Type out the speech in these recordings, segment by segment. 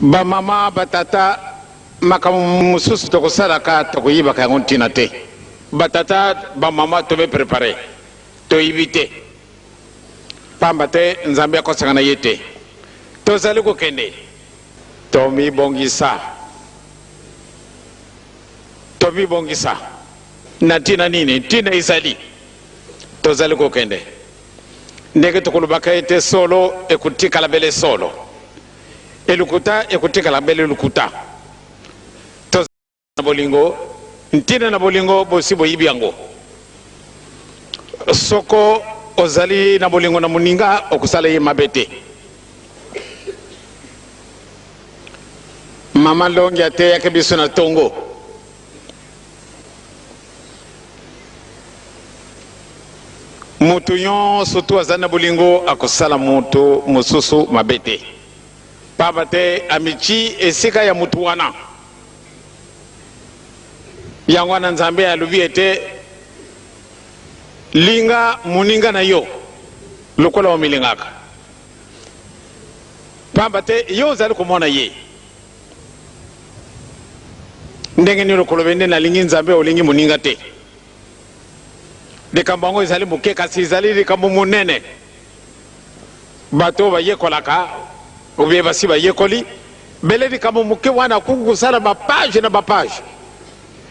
Ba mama ba tata makambo mosusu toko salaka toko yebaka yango ntina te ba tata ba mama to mi prepare to yibi te pamba te nzambe ako sangana ye te to zali ko kende to mi bongisa to mi bongisa na ntina nini ntina ezali to zali ko kende ndenge toko lobaka ye te solo eko tikala bele solo Et lokuta ekotikala belle lokuta. Tozali na bolingo, ntina na bolingo bosi boyibi yango. Soko ozali na bolingo na moninga okosala ye mabe te. Maman Longi ateyaki biso na tongo. Moto nyonso to azali na bolingo akosala moto mosusu mabe te, mpamba te amitii esika ya moto wana. Yango wana Nzambe alobi ete linga moninga na yo lokola omilingaka, mpamba te yo ozali komona ye. Ndenge nini okolobe nde nalingi Nzambe olingi moninga te? Likambo yango ezali moke kasi ezali likambo monene. Bato bayekolaka obiye basi bayekoli bele likambo moke wana akoki kosala bapage na bapage.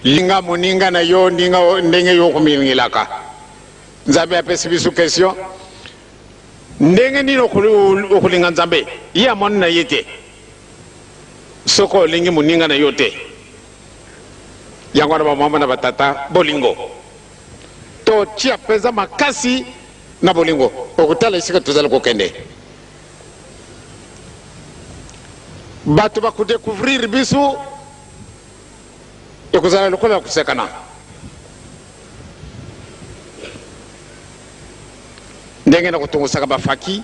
Linga moninga na yo ndinga ndenge yo okomilingelaka. Nzambe apesi biso kestion ndenge nini okolinga Nzambe ye amoni na ye te. Soki olingi moninga na yo te, yango wana bamama na batata, bolingo. Totia mpenza makasi na bolingo. Okotala esika tozali kokende, bato bakodecouvrir biso, ekozala lokola ya kosekana. Ndenge na kotongosaka bafaki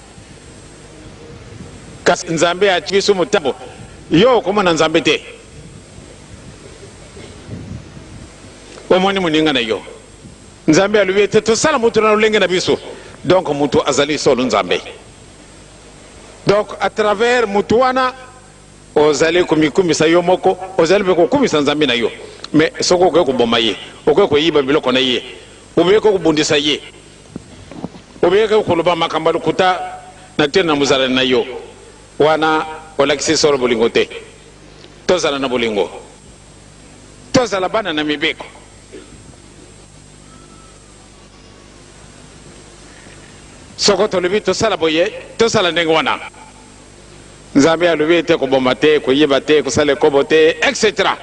Kasi Nzambe atiki biso motambo. Yo okomona Nzambe te. Omoni moninga na yo. Nzambe alobi ete tosala moto na lolenge na biso. Donc moto azali solo Nzambe. Donc à travers moto wana ozali komikumisa yo moko, ozali mpe kokumisa Nzambe na yo. Mais soki okoki koboma ye, okoki koyiba biloko na ye, okoki kobundisa ye Obengaki koloba makambo ya lokuta na ntina na mozalani na yo, wana olakisi solo bolingo te. Tozala na bolingo. Tozala bana na mibeko. Soko tolobi tosala boye, tosala ndenge wana. Nzambe alobi ete koboma te, koyiba te, kosala ekobo te, etc.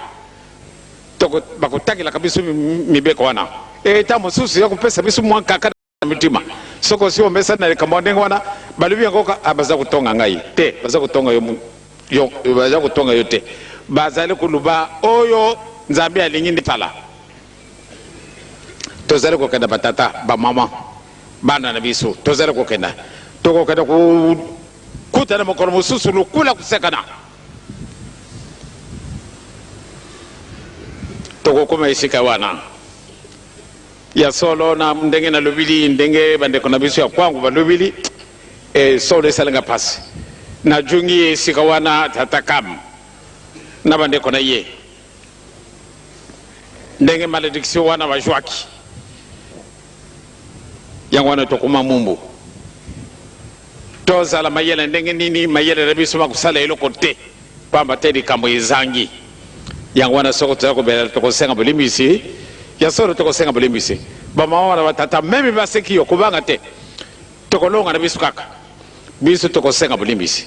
bakotakelaka biso mibeko wana eta mosusu ya kopesa biso mwa nkaka na mitima soki osi omesani na likambo ya ndenge wana balobi yango ah, baza kotonga ngai te baza kotonga yo, yo, baza kotonga yo te bazali koluba oyo nzambe alingi nde tala tozali kokenda batata bamama bana na biso tozali kokenda tokokenda kokutana mokolo mosusu lokula kosekana tokokoma esika wana ya solo na ndenge nalobili ndenge bandeko na biso ya kwangu balobili e, solo esalinga mpasi najungi esika wana tata kam na bandeko na ye Ndenge malediction wana ba juaki yango wana tokoma mumbu. Tozala mayele ndenge nini mayele na biso makosala eloko te pamba te likambo ezangi. Yango wana soko toza kobela tokosenga bolimbisi ya solo tokosenga bolimbisi. Ba mama na ba tata meme baseki yo kobanga te. Tokolonga na biso kaka. Biso tokosenga bolimbisi.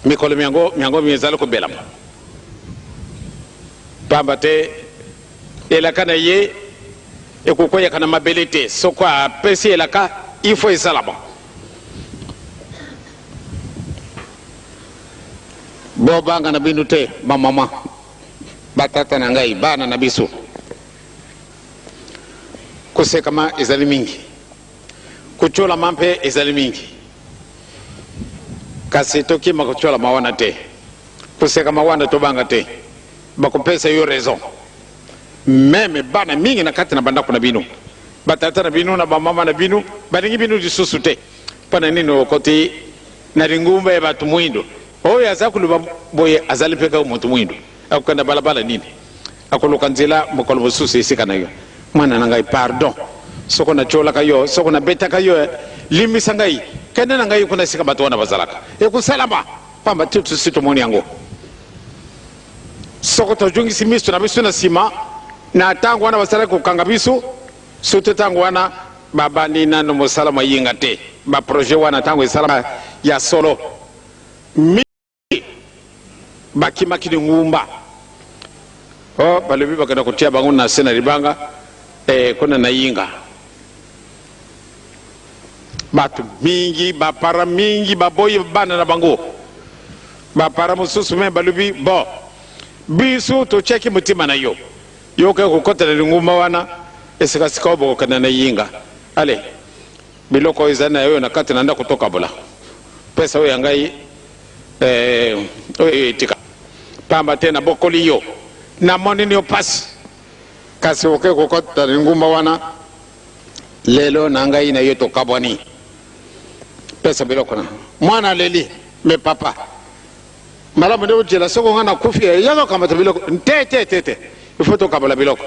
mikolo myango myango mizali kobelama pamba te elaka na ye ekokweyaka na mabele te soko apesi elaka ifo esalama bobanga na bino te bamama batata na ngai bana na biso kosekama ezali mingi Kotyolama mpe ezali mingi, kasi tokima kotyolama wana te, kosekama wana tobanga te. Bakopesa yo raison. Meme bana mingi na kati na bandako na bino, batata na bino na bamama na bino balingi bino lisusu te. Mpo na nini okoti na lingomba ya bato mwindo? Oyo aza koloba boye azali mpe kaka moto mwindo. Akokenda balabala nini? Akoluka nzela mokolo mosusu esika na yo? Mwana na ngai, pardon soko natiolaka yo, soko nabetaka yo eh, limbisa ngai, kende na ngai kuna esika bato wana bazalaka. Ekosalama, pamba te tosi tomoni yango. Soko tozongisi miso na biso na nsima, na ntango wana basalaki kokanga biso, soki ntango wana babandi nano mosala mayinga te, baprojet wana ntango esalama ya solo. bakimaki na engumba o oh, balobi bakenda kotia bango na se na libanga eh, kuna na yinga bato mingi bapara mingi baboyi bana na bango bapara mosusu me balobi bo biso totyaki motema na yo yoka kokota na lingumba wana esikasika oyo bokokenda na yinga ale biloko oyo ezali na yo na kati na ndako tokabola pesa oyo ya ngai Eh, oyo etika. Pamba te nabokoli yo. Namoni nio pasi. Kasi oke kokota na lingumba wana. Lelo na ngai na yo tokabwani. Pesa biloko na. Mwana aleli. Me papa. Malamu nde ojela soko nga nakufi. Eh, yaka kamata biloko. Te, te, te, te. Ifo tokabola biloko.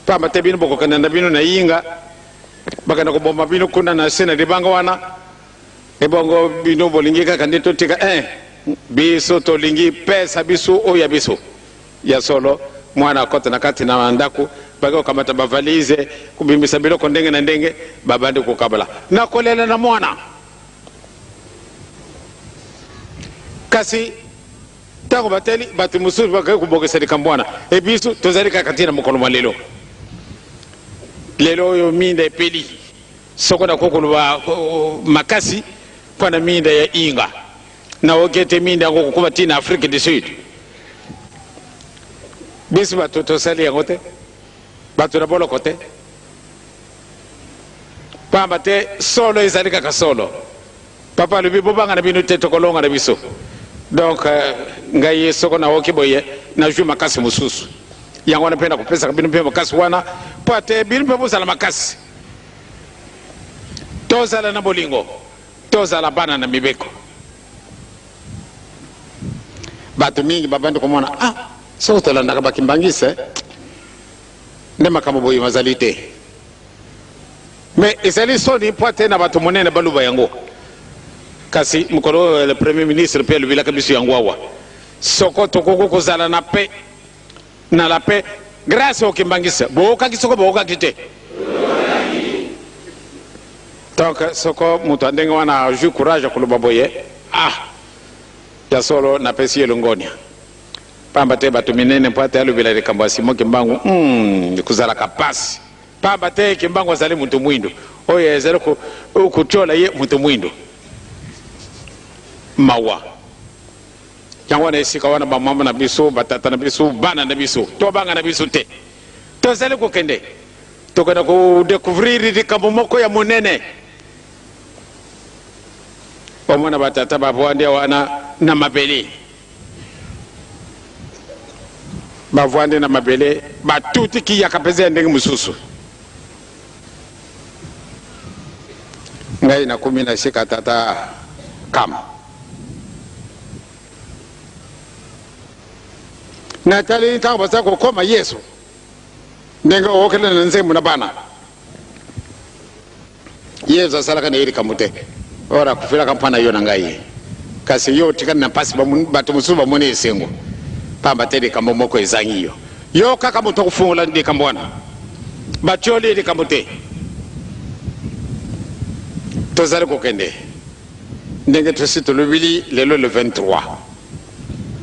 Pamba te bino bokokenda na bino na yinga. Bakenda koboma bino kuna na se na libanga wana. Ebongo bino bolingi kaka nde totika eh? Biso tolingi pesa biso oyo ya biso. Ya solo, mwana akota na kati na ndako, bake kokamata ba valise, kobimisa biloko ndenge na ndenge, babandi kokabola. Nakolela na mwana. Kasi ntango batali bato mosusu bakaki kobongisa likambo wana, ebisu tozali kaka ntina mokolo mwa lelo. Lelo oyo minda epeli. Soko na ko koloba makasi mpo na miinda ya Inga, na oki ete miinda yango kokoma ti na Afrique du Sud. Biso bato tosali yango te, bato na boloko te, pamba te solo ezali kaka solo. Papa alobi bobanga na bino te, tokolonga na biso. Donc euh, ngai soko na oki boye na jui makasi mosusu, yango wana mpe na kopesaka bino mpe makasi wana mpo ate bino mpe bozala makasi. Tozala na bolingo, tozala bana na mibeko. Bato mingi babandi komona, ah, soko tolandaka bakimbangiste nde makambo boye mazali te. Me ezali soni mpo ete na bato monene baluba yango. Kasi mokolo oyo le premier ministre mpe alobilaka biso yango awa, soko tokoki kozala na pe Na la paix grace au kimbanguiste bookaki soko bookaki te donc soko moto ya ndenge wana ajui courage ya koloba boye ah ya solo napesi ye longonia pamba te bato minene mpo ate alobela likambo ya simo kimbangu mm, ekozalaka pasi pamba te kimbangu azali moto mwindo oyo ezali kotyola ye moto mwindo mawa Yango wana esika wana bamama na biso, batata na biso, bana na biso, tobanga na biso te. Tozali kokende, tokenda kodekouvrir likambo moko ya monene. Omona batata bavwandi wana na mabele, bavwandi na mabele, batuti kiyaka mpenza ya ndenge mosusu. Ngai nakomi na sika tata kama nataleli ntango baza kokoma yesu ndenge okokende na nzembo na bana yesu asalaka na ye likambo te ora akufelaka mpo na yo na ngai kasi yo otikali na mpasi bato mosusu bamoni esengo mpamba te likambo moko ezangi yo yo kaka moto akofungola likambo wana batyoli likambo te tozali kokende Ndenge tosi tolobili lelo le 23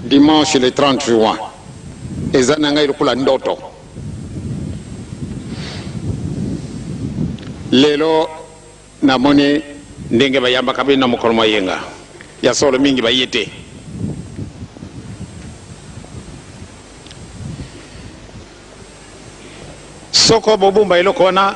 dimanche le 30 juin eza na ngai lokola ndoto lelo namoni ndenge bayambaka bino na mokolo mwa yenga ya solo mingi baye te soko bobumba eloko wana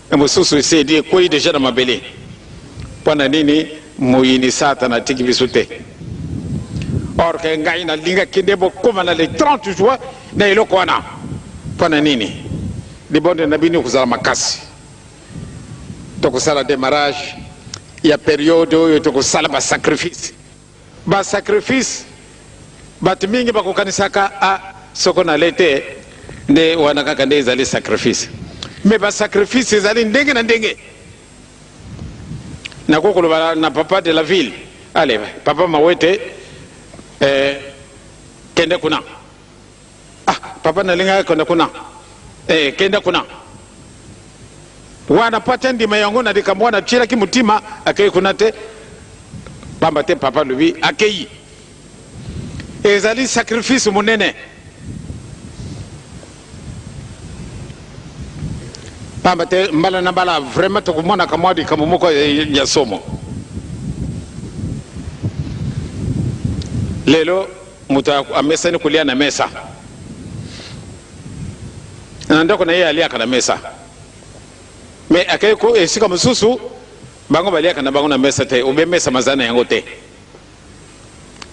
Na mosusu esedi ekweyi deja na mabele. Mpo na nini moyini Satana atiki biso te? Or ke ngai nalingaki nde bokoma na le 30 juin na eloko wana. Mpo na nini? Libondeli na bino ekozala makasi. Tokosala demarrage ya periode oyo tokosala ba sacrifice. Ba sacrifice batu mingi bakokanisaka ah soko na lei te nde wana kaka nde ezali sacrifice mais ba sacrifice ezali ndenge na ndenge nakoki koloba na papa de la ville ale papa mawete eh, kende kuna Ah papa nalingaka kende kuna eh, kenda kuna wana po atya ndima yango na likambo wana atyelaki motima akei kuna te pamba te papa alobi akei ezali sacrifice monene pamba te mbala na mbala vraiment tokomonaka mwa likambo moko ya somo lelo Moto amesani kolia na mesa, na ndako na ye aliaka na mesa, me akei ko esika mosusu bango baliaka na bango na mesa te, obe mesa mazali na yango te.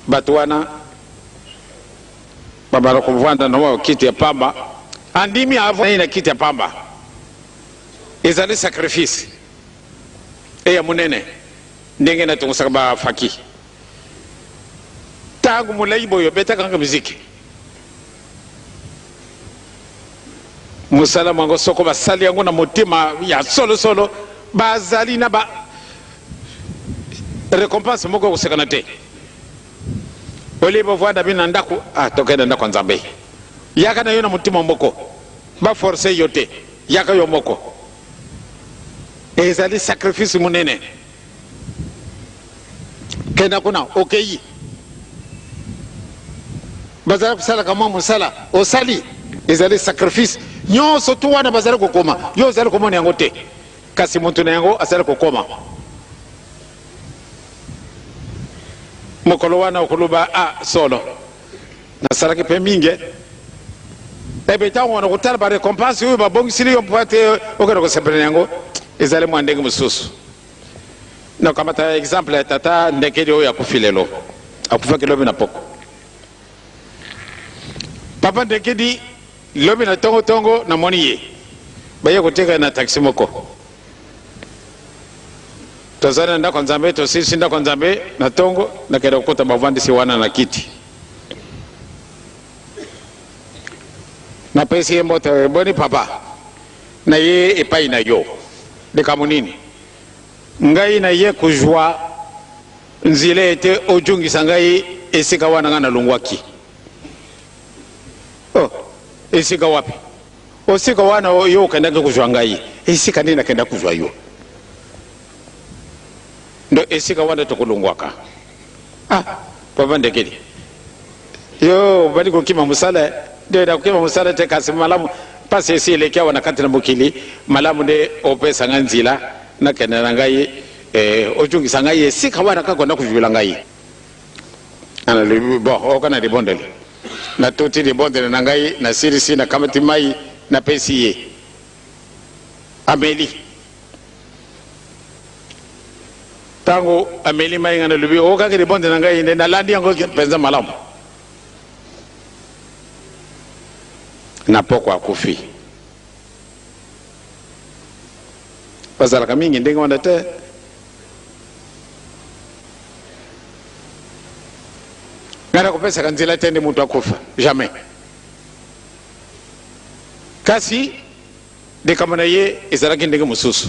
Bato wana babala kovanda na kiti ya pamba, andimi avandi na kiti ya pamba, ezali sacrifice eya monene ndenge natongosaka bafaki Tangu mulayi boye obetaka nga miziki musala mwango soko basali yango na motema ya solo solo bazali na ba recompense moko kosekana te olie bovanda bino na ndako ah, tokende ndako ya nzambe yaka na yo na motema moko baforce yo te yaka yo moko ezali sacrifice monene kenda kuna okeyi bazali kosalaka mwa mosala osali ezali sacrifice nyonso tu wana bazali kokoma yo ozali komona yango te kasi moto na yango azali kokoma mokolo wana okoloba a ah, solo Nasalaki mpe mingi ebe ntango wana kotala ba recompense oyo babongisili yo mpo ete okende kosepela na yango ezali mwa ndenge mosusu. Nakamata exemple ya tata Ndekedi oyo akufi lelo, akufaki lobi na poko. Papa Ndekedi lobi na tongo tongo namoni ye baye koteka na taxi moko Tozali na ndako ya Nzambe, tosilisi ndako ya Nzambe na ntongo, nakenda kokota bavandisi wana na kiti. Napesi ye mbote, eh, boni papa, na ye epai na yo. Likambo nini? Ngai na ye kuzwa nzela ete ojungisa ngai esika wana ngai nalongwaki. Oh, esika wapi? O sika wana yo okendaki kozwa ngai, esika nini nakendaki kozwa yo? Ndo esika wana tokolongwaka. Ah, papa Ndekeli, yo obandi kokima mosala eh? Ndio, nakokima mosala te, kasi malamu mpasi esi eleki awa na kati na mokili, malamu nde opesa ngai nzila nakende na ngai eh, ojungisa ngai esika wana kaka onda kozwila ngai. Analobi, bon, okana libondeli Natuti libondeli na ngai, nasilisi, nakamati mai, napesi ye. Ameli. Ntango ameli mai, ngai nalobi, okokaki libondeli na ngai, nde nalandi yango mpenza malamu. Na pokwa akufi. bazalaka mingi ndenge wana te ngai nakopesaka nzela te nde moto akufa jamais kasi likambo na ye ezalaki ndenge mosusu